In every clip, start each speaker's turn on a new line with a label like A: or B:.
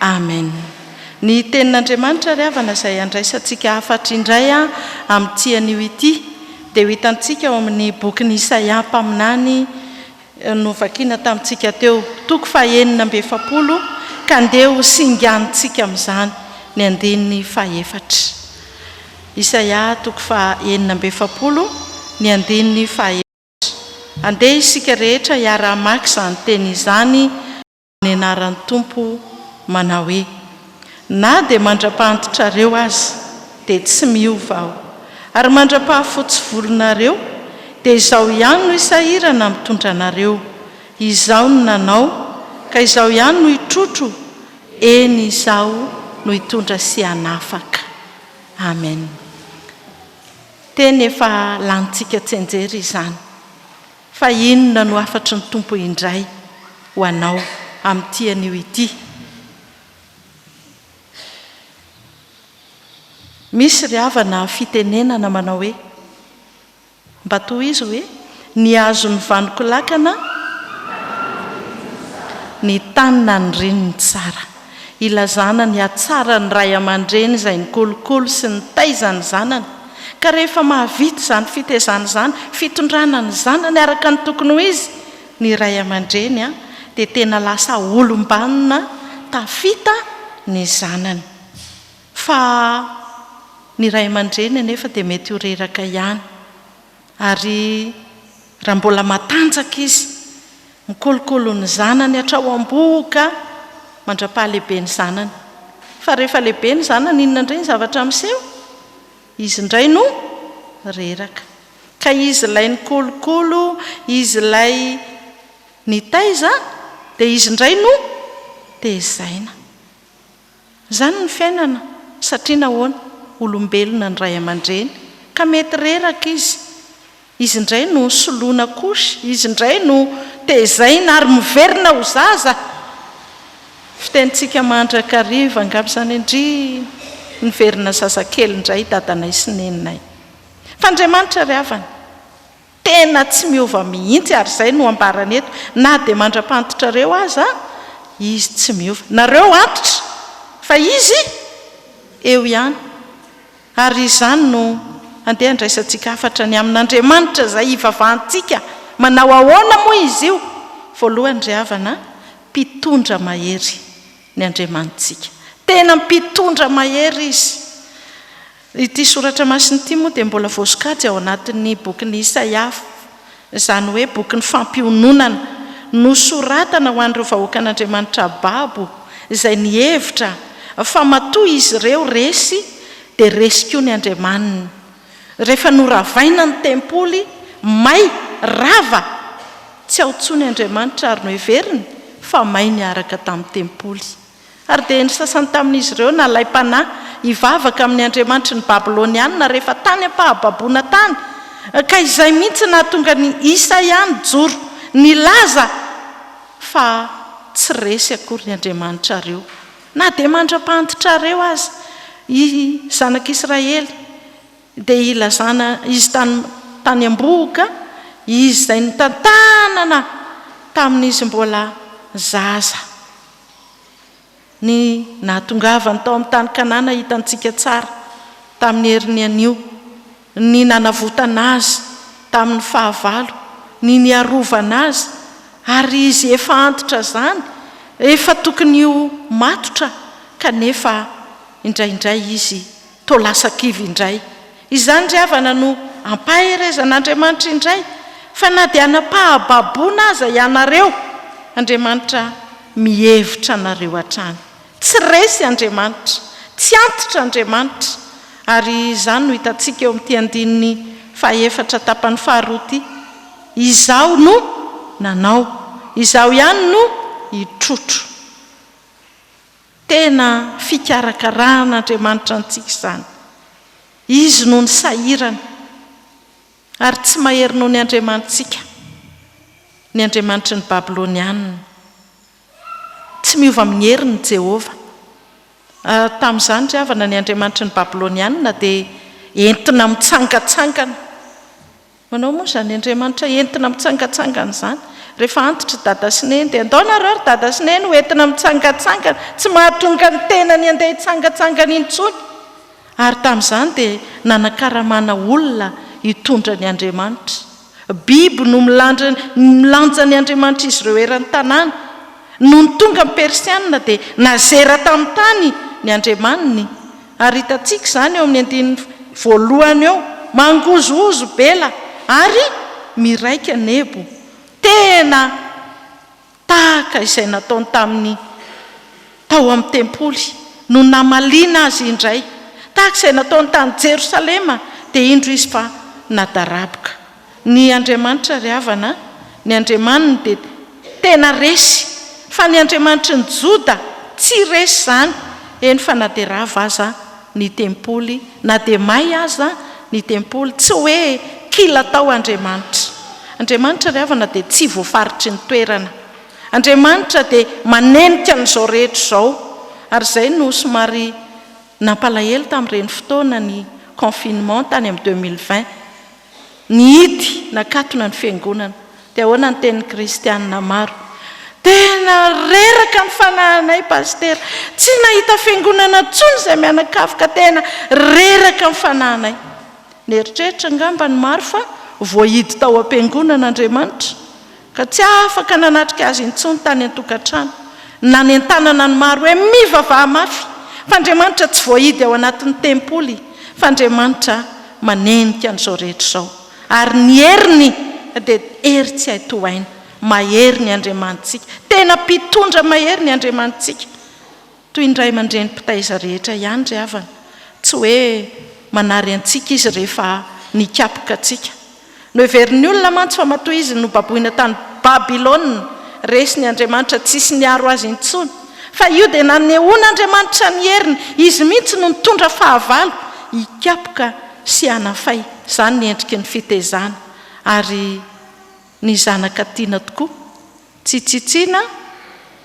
A: Amen! Ny Tenin'Andriamanitra ry havana izay handraisantsika hafatra indray amin'ity anio ity dia ho hitantsika ao amin'ny bokin'i Isaia mpaminany novakiana tamintsika teo, toko fahenina amby efapolo, ka ndeha ho singanintsika amin'izany ny andininy fahefatra. Isaia toko fahenina amby efapolo, ny andininy fahefatra. Andeha isika rehetra hiara-hamaky izany teny izany. amin'ny anaran'ny Tompo manao hoe, Na dia mandra-pahantitrareo aza, dia tsy miova Aho, ary mandra-pahafotsy volonareo, dia Izaho ihany no hisahirana mitondra anareo, Izaho no nanao, ka Izaho ihany no hitrotro, eny, Izaho no hitondra sy hanafaka. Amen. Teny efa lanintsika tsianjery izany. Fa inona no hafatry ny Tompo indray ho anao amin'ity anio ity? Misy ry havana fitenenana manao hoe, mba tohizo hoe, ny hazon'ny vanon-kolakana, ny tany nanirin'ny tsara. Ilazana ny hatsaran'ny ray aman-dreny izay nikolokolo sy nitaiza ny zanany, ka rehefa mahavita izany fitaizana izany, fitondrana ny zanany araka ny tokony ho izy, ny ray aman-dreny dia tena lasa olom-banona tafita ny zanany. Fa ny ray aman-dreny anefa dia mety ho reraka ihany. Ary raha mbola matanjaka izy, mikolokolo ny zanany hatrao am-bohoka mandra-pahalehibe ny zanany. Fa rehefa lehibe ny zanany, inona indray ny zavatra miseho? Izy indray no reraka. Ka izy ilay nikolokolo, izy ilay nitaiza, dia izy indray no tezaina. Izany ny fiainana, satria nahoana? Olombelona ny ray aman-dreny, ka mety reraka izy. Izy indray no soloina couche, izy indray no tezaina ary miverina ho zaza! Fitenintsika mandrakariva angamba izany ndrii! Niverina zazakely indray dadanay sy neninay. Fa Andriamanitra ry havana! Tena tsy miova mihitsy ary izay no ambarany eto na dia mandra-pantitrareo aza Izy tsy miova. Nareo antitra fa Izy eo ihany ary izany no handeha handraisantsika hafatra ny amin' Andriamanitra izay hivavahantsika. Manao ahoana moa Izy io? Voalohany ry havana, Mpitondra mahery ny Andriamanitsika. Tena Mpitondra mahery Izy. Ity soratra masina ity moa dia mbola voasokajy ao anatin'ny bokin'i Isaia, izany hoe bokin'ny fampiononana, nosoratana ho an'ireo vahoakan'Andriamanitra babo izay nihevitra fa matoa izy ireo resy dia resy koa ny Andriamaniny. Rehefa noravaina ny tempoly, may, rava, tsy ao intsony Andriamanitra ary noheveriny fa may niaraka tamin'ny tempoly. Ary dia ny sasany tamin'izy ireo nalay panahy hivavaka amin'ny andriamanitry ny Babylonianina rehefa tany am-pahababoana tany, ka izay mihitsy nahatonga an'i Isaia nijoro nilaza fa tsy resy akory ny andriamanitrareo, na dia mandra-pahantitrareo aza, i zanak'Israely, dia hilazana izy tany tany am-bohoka, izy izay nitantanana tamin'izy mbola zaza. Ny nahatongavany tao amin'ny tany Kanana hitantsika tsara tamin'ny heriny anio, ny nanavotana azy tamin'ny fahavalo, ny niarovana azy, ary izy efa antitra izany, efa tokony ho matotra, kanefa indraindray izy Toa lasa kivy indray. Izany ry havana no ampaherezan'Andriamanitra indray fa na dia hanam-pahababoana aza ianareo, Andriamanitra mihevitra anareo hatrany. Tsy resy Andriamanitra, tsy antitra Andriamanitra, ary izany no hitantsika eo amin'ity andininy fahaefatra tapany faharoa ity, Izaho no nanao, Izaho ihany no hitrotro. Tena fikarakaran'Andriamanitra antsika izany. Izy no nisahirana, ary tsy mahery noho ny andriamanitsika, ny andriamanitry ny Babylonianina. Tsy miova amin'ny heriny i Jehovah. Tamin'izany ry havana, ny andriamanitry ny Babylonianina dia entina mitsangantsangana. Manao moa izany Andriamanitra entina mitsangatsangana izany? Rehefa antitra i Dada sy Neny dia andao nareo ry Dada sy Neny ho entina mitsangatsangana, tsy mahatonga ny tenany handeha hitsangatsangana intsony. Ary tamin'izany dia nanakaramana olona hitondra ny Andriamanitra. Biby no milandra milanja ny Andriamanitra izy ireo eran-tanàna. Nony tonga ny Persianina dia nazera tamin'ny tany ny Andriamaniny. Ary hitantsika izany eo amin'ny andininy voalohany eo, Mangozohozo Bela ary miraika Nebo. Tena tahaka izay nataony tamin'ny tao amin'ny tempoly no namaliana azy indray. Tahaka izay nataony tany Jerosalema, dia indro izy fa nadaraboka. Ny Andriamanitra ry havana a, ny Andriamaniny dia tena resy, fa ny Andriamanitry ny Joda tsy resy izany, eny fa na dia rava aza ny tempoly, na dia may aza ny tempoly, tsy hoe kila tao Andriamanitra. Andriamanitra ry havana dia tsy voafaritry ny toerana. Andriamanitra dia manenika an'izao rehetra izao, ary izay no somary nampalahelo tamin'ireny fotoana ny confinement tany amin'ny deux mille vingt. Nihidy nakatona ny Fiangonana. Dia ahoana ny tenin'ny Kristianina maro? Tena reraka ny fanahinay Pasitera. Tsy nahita Fiangonana intsony izay mianakavy ka tena reraka ny fanahinay. Nieritreritra angamba ny maro fa voahidy tao am-piangonana Andriamanitra. ka tsy afaka nanatrika azy intsony tany an-tokantrano, nanentanana ny maro hoe, Mivavaha mafy, fa Andriamanitra tsy voahidy ao anatin'ny tempoly, fa Andriamanitra manenika an'izao rehetra izao, ary ny heriny dia hery tsy hay tohaina. Mahery ny Andriamanitsika. Tena Mpitondra mahery ny Andriamanitsika. Toy ny ray aman-dreny mpitaiza rehetra ihany ry havana, tsy hoe manary antsika izy rehefa nikapoka antsika. Noheverin'ny olona mantsy fa matoa izy nobaboina tany Babylona, resiny Andriamanitra tsisy niaro azy intsony. Fa io dia nanehoan'Andriamanitra ny heriny, izy mihitsy no nitondra fahavalo hikapoka sy hanafay, izany ny endriky ny fitezana, ary. Ny zanaka tiana tokoa. Tsy tsitsiana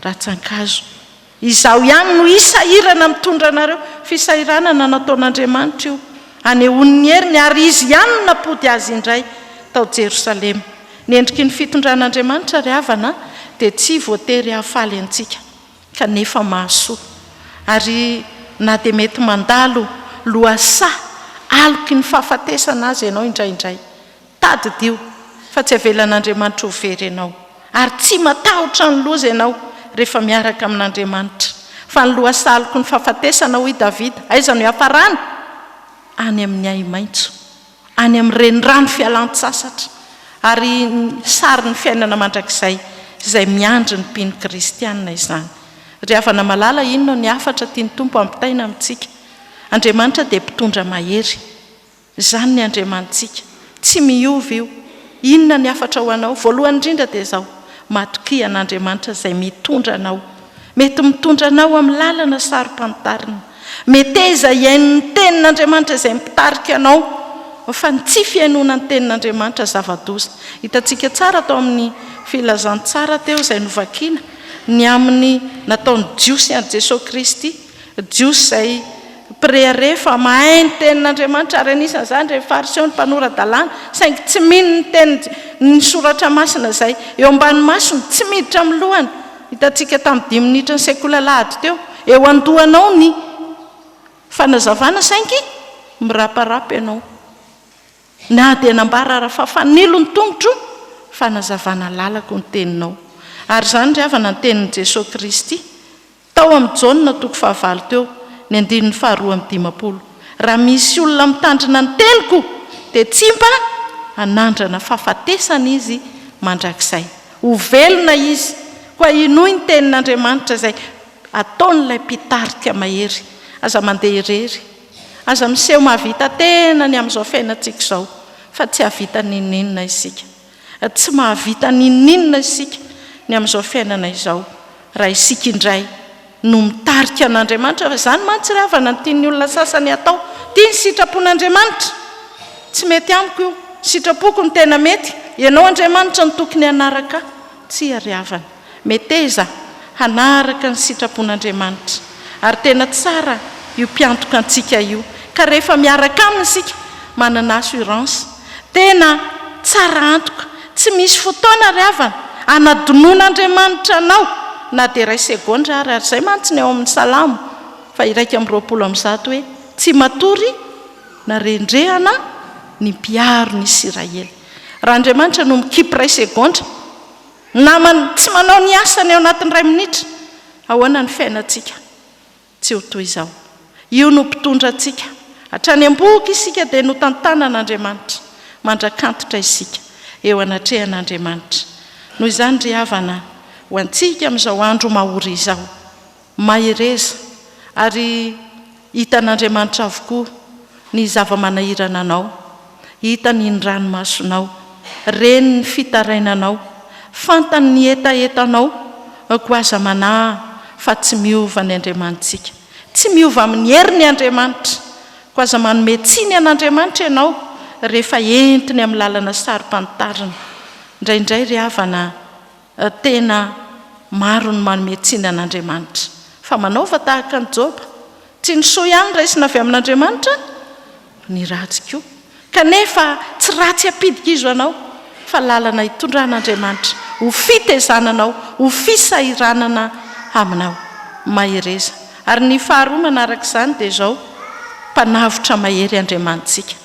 A: ratsan-kazo. Izaho ihany no hisahirana mitondra anareo. Fisahiranana nataon'Andriamanitra io hanehoany ny heriny, ary Izy ihany no nampody azy indray tao Jerosalema. Ny endriky ny fitondran'Andriamanitra, ry havana, dia tsy voatery hahafaly antsika, kanefa mahasoa. Ary na dia mety mandalo lohasaha aloky ny fahafatesana aza ianao indraindray, Tadidio fa tsy avelan'Andriamanitra ho very ianao, ary tsy matahotra ny loza ianao rehefa miaraka amin'Andriamanitra. Fa ny lohasaloko ny fahafatesana, hoy Davida, aiza no hiafarany? Any amin'ny ahi-maitso, any amin'ny renirano fialan-tsasatra. Ary sarin'ny fiainana mandrakizay izay miandry ny mpino kristiana izany. Ry havana malala, inona ny hafatra tian'ny Tompo hampitaina amintsika? Andriamanitra dia Mpitondra mahery. Izany ny Andriamanitsika. Tsy miova io. Inona ny hafatra ho anao? Voalohany indrindra dia izao, matokia an'Andriamanitra izay mitondra anao. Mety mitondra anao amin'ny lalana saro-pantarina. Meteza hihaino ny Tenin'Andriamanitra izay mpitarika anao, fa ny tsy fihainoana ny Tenin'Andriamanitra zava-doza. Hitantsika tsara tao amin'ny Filazantsara teo izay novakina, ny amin'ny nataon'ny Jiosy an'i Jesoa Kristy. Jiosy izay mpirehareha fa mahay ny Tenin'Andriamanitra, ary anisan'izany ireny Fariseo, ny mpanora-dalàna, saingy tsy mino ny tenin', ny Soratra Masina izay eo ambany masony, tsy miditra amin'ny lohany. Hitantsika tamin'ny dimy minitry ny sekoly alahady teo, eo an-dohanao ny fanazavana saingy miraparapa ianao, na dia nambara ara fa fanilo ny tongotro fanazavana lalako ny teninao. Ary izany ry havana ny tenin'i Jesoa Kristy. Tao amin'ny Jaona toko fahavalo teo, ny andininy faharoa amby dimampolo, Raha misy olona mitandrina ny teniko, dia tsy mba hanandrana fahafatesana izy mandrakizay. Ho velona izy, koa hinoy ny tenin'Andriamanitra izay ataon'ilay mpitarika mahery. Aza mandeha irery. Aza miseho mahavita tena ny amin'izao fiainantsika izao, fa tsy hahavita n'inon'inona isika. Tsy mahavita n'inon'inona isika ny amin'izao fiainana izao raha isika indray no mitarika an'Andriamanitra fa izany mantsy ry havana no tian'ny olona sasany hatao. Tiany sitrapon'Andriamanitra. Tsy mety amiko io. Sitrapoko no tena mety. Ianao Andriamanitra no tokony hanaraka ahy. Tsia ry havana. Meteza hanaraka ny sitrapon'Andriamanitra. Ary tena tsara io mpiantoka antsika io. Ka rehefa miaraka aminy isika, manana assurance. Tena tsara antoka. Tsy misy fotoana ry havana, hanadinoan'Andriamanitra anao na dia iray segondra ary. Ary izay mantsy ny ao amin'ny Salamo faha-iraika amby roapolo amby zato hoe, Tsy matory na rendrehana ny mpiaro ny Isiraely. Raha Andriamanitra no mikipy iray segondra, Namana, tsy manao ny asany ao anatin'ny iray minitra, ahoana ny fiainantsika? Tsy ho toy izao. Io no mpitondra antsika. Hatrany am-bohoka isika dia notantanan'Andriamanitra. Mandrak'antitra isika eo anatrehan'Andriamanitra. Noho izany ry havana, ho antsika amin'izao andro mahory izao, Mahereza, ary hitan'Andriamanitra avokoa ny zava-manahirana anao, hitany ny ranomasonao, reny ny fitarainanao, fantany ny hetahetanao, koa aza manahy fa tsy miova ny Andriamanitsika. Tsy miova amin'ny heriny Andriamanitra, koa aza manome tsiny an'Andriamanitra ianao rehefa entiny amin'ny lalana saro-pantarina. Indraindray ry havana Tena maro ny manome tsiny an'Andriamanitra. Fa manaova tahaka an'i Joba. Tsy ny soa ihany raisina avy amin'Andriamanitra, fa ny ratsy koa. Kanefa tsy ratsy ampidikizo anao, fa lalana itondran'Andriamanitra ho fitezananao, ho fisahiranana aminao. Mahereza. Ary ny faharoa manaraka izany dia izao, Mpanavotra mahery Andriamanitsika.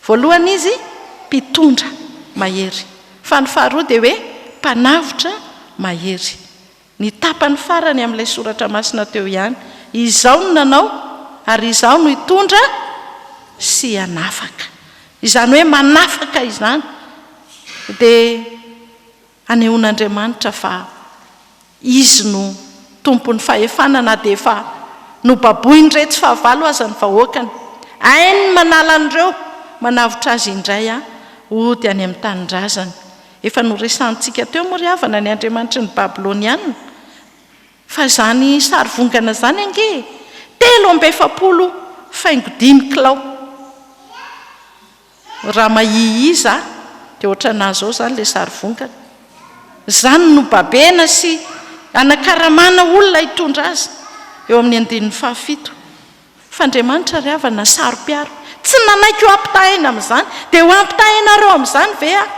A: Voalohany izy mpitondra mahery, fa ny faharoa dia hoe mpanavotra mahery. Ny tapany farany amin'ilay soratra masina teo ihany, Izaho no nanao ary Izaho no hitondra sy hanafaka. Izany hoe manafaka izany dia. Hanehoan'Andriamanitra fa Izy no Tompon'ny fahefana na dia efa nobaboin'iretsy fahavalo aza ny vahoakany. Hainy ny manala an'ireo manavotra azy indray hody any amin'ny tanindrazany. Efa noresahintsika teo moa ry havana ny andriamanitry ny Babylonianina. Fa izany sarivongana izany ange e! Telo amby efapolo faingo dimy kilao. Raha mahihia za dia ohatranà zao zany le sary vongana. Zany no babena sy anakaramana olona hitondra azy eo amin'ny andininy faha fito. F'Andriamanitra ry havana saro-piaro. Tsy nanaiky ho ampitahaina amin'izany. Dia ho ampitahainareo amin'izany ve aho?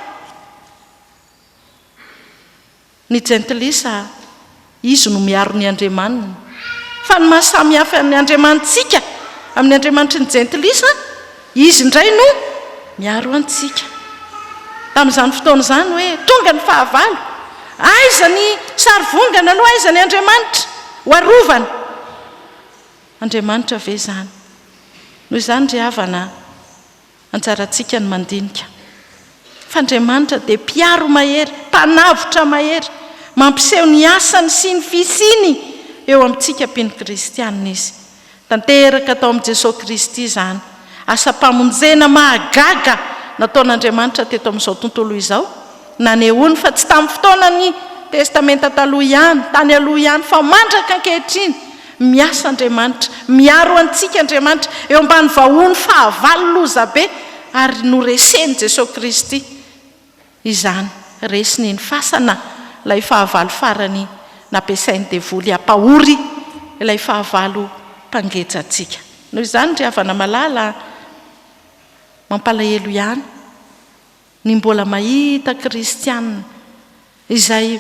A: Ny jentilisa, izy no miaro ny andriamaniny. Fa ny maha samy hafa ny andriamanitsika amin'ny andriamanitry ny jentilisa, izy indray no miaro antsika. Tamin'izany fotoana izany hoe, tonga ny fahavalo, aiza ny sarivongana aloha, aiza ny andriamanitra ho arovana? Andriamanitra ve izany? Noho izany ry havana a! Anjarantsika ny mandinika fa Andriamanitra dia Mpiaro mahery, Mpanavotra mahery. Mampiseho ny asany sy ny fisiany eo amintsika mpino kristiana Izy. Tanteraka tao amin'i Jesoa Kristy izany asam-pamonjena mahagaga nataon'Andriamanitra teto amin'izao tontolo izao. Nanehoany fa tsy tamin'ny fotoanan'ny Testamenta Taloha ihany, tany aloha ihany, fa mandraka ankehitriny, miasa Andriamanitra, miaro antsika Andriamanitra, eo ambany vahohon'ny fahavalo loza be, ary noresen'i Jesoa Kristy izany. Resiny iny fasana ilay fahavalo farany nampiasain'ny devoly hampahory ilay fahavalo mpangeja antsika. Noho izany, ry havana malala a, mampalahelo ihany. Ny mbola mahita kristiana izay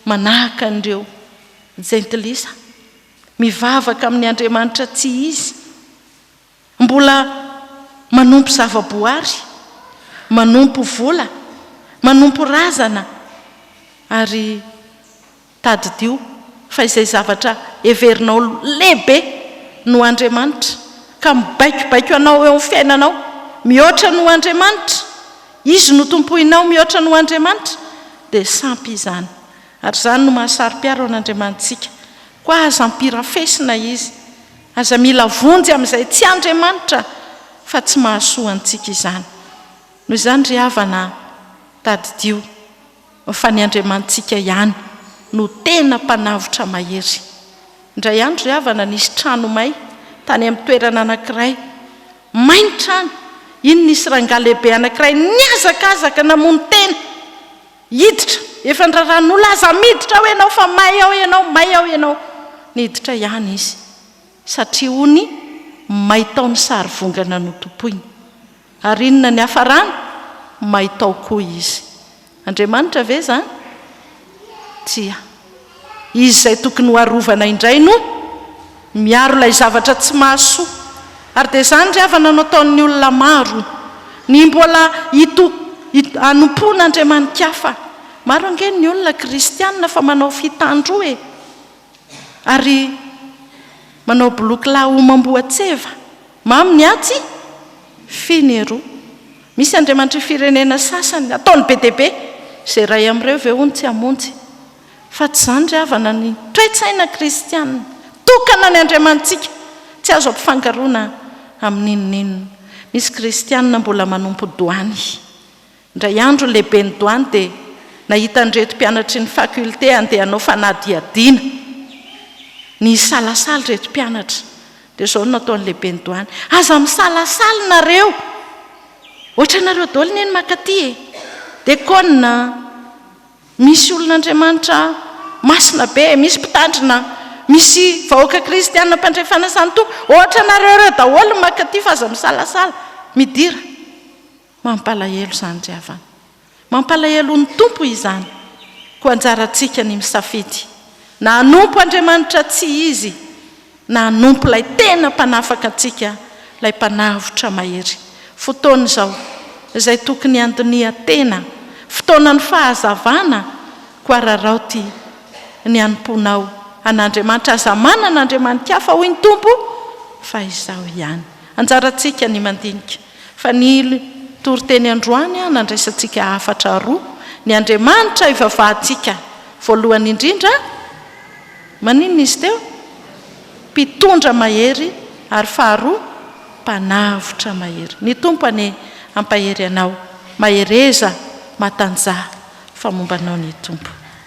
A: manahaka an'ireo jentilisa, mivavaka amin'ny andriamanitra tsy izy, mbola manompo zava-boary, manompo vola, manompo razana, ary. Tadidio fa izay zavatra heverinao lehibe noho Andriamanitra ka mibaikobaiko anao eo amin'ny fiainanao mihoatra noho Andriamanitra, Izy no tompoinao mihoatra noho Andriamanitra, dia sampy izany. Ary izany no mahasaro-piaro an'Andriamanitsika. Koa aza ampirafesina Izy. Aza mila vonjy amin'izay tsy Andriamanitra fa tsy mahasoa antsika izany. Noho izany ry havana a, tadidio. Fa ny Andriamanitsika ihany no tena Mpanavotra mahery. Indray andro ry havana nisy trano may tany amin'ny toerana anankiray. May ny trano. Iny nisy rangahy lehibe anankiray nihazakazaka namono tena. Hiditra. Efa niraharahan'ny olona aza miditra ao ianao fa may ao ianao, may ao ianao. Niditra ihany izy. Satria hono may tao ny sarivongana notompoiny. Ary inona ny hafarana? Maitao koa izy. Andriamanitra ve izany? Tsia. Izy izay tokony ho arovana indray no miaro ilay zavatra tsy mahasoa. Ary dia izany ry havana no ataon'ny olona maro. Ny mbola hito, hito, hanompoana andriamani-kafa. Maro ange ny olona kristiana fa manao fitandroa e. Ary manao boloky lahy homam-boan-tseva. Mamy ny atsy, fy ny eroa. Misy andriamanitr'i firenena sasany, ataony be dia be. Izay iray amin'ireo ve hono tsy hamonjy? Fa tsy izany ry havana ny toe-tsaina kristiana. Tokana ny Andriamanitsika, tsy azo ampifangaroana amin'inon'inona. Misy kristiana mbola manompo doany. Indray andro ny lehiben'ny Douane dia nahita an'ireto mpianatry ny faculté handeha hanao fanadihadiana. Nisalasala ireto mpianatra. Dia izao no nataon'ny lehiben'ny Douane, aza misalasala nareo! Ohatranareo daholo anie ny maka aty e! Dia kônina, misy olon'Andriamanitra masina be, misy mpitandrina, misy vahoaka kristiana mpandray fanasan-tompo, ohatranareo ireo daholo no maka aty fa aza misalasala, midira! Mampalahelo izany ry havana. Mampalahelo ny Tompo izany. Koa anjarantsika ny misafidy na hanompo Andriamanitra tsy izy na hanompo ilay tena mpanafaka antsika, ilay mpanavotra mahery. Fotoana izao izay tokony handinihan-tena, fotoanan'ny fahazavana, koa araraoty ny hanompoanao an'Andriamanitra. Aza manana andriamani-kafa hoy ny Tompo fa Izaho ihany. Anjarantsika ny mandinika. Fa ny toriteny androany nandraisantsika hafatra roa, ny Andriamanitra ivavahantsika voalohany indrindra, maninona izy teo? Mpitondra mahery ary faharoa Mpanavotra mahery. Ny Tompo anie hampahery anao, mahereza, matanjaha fa momba anao ny Tompo.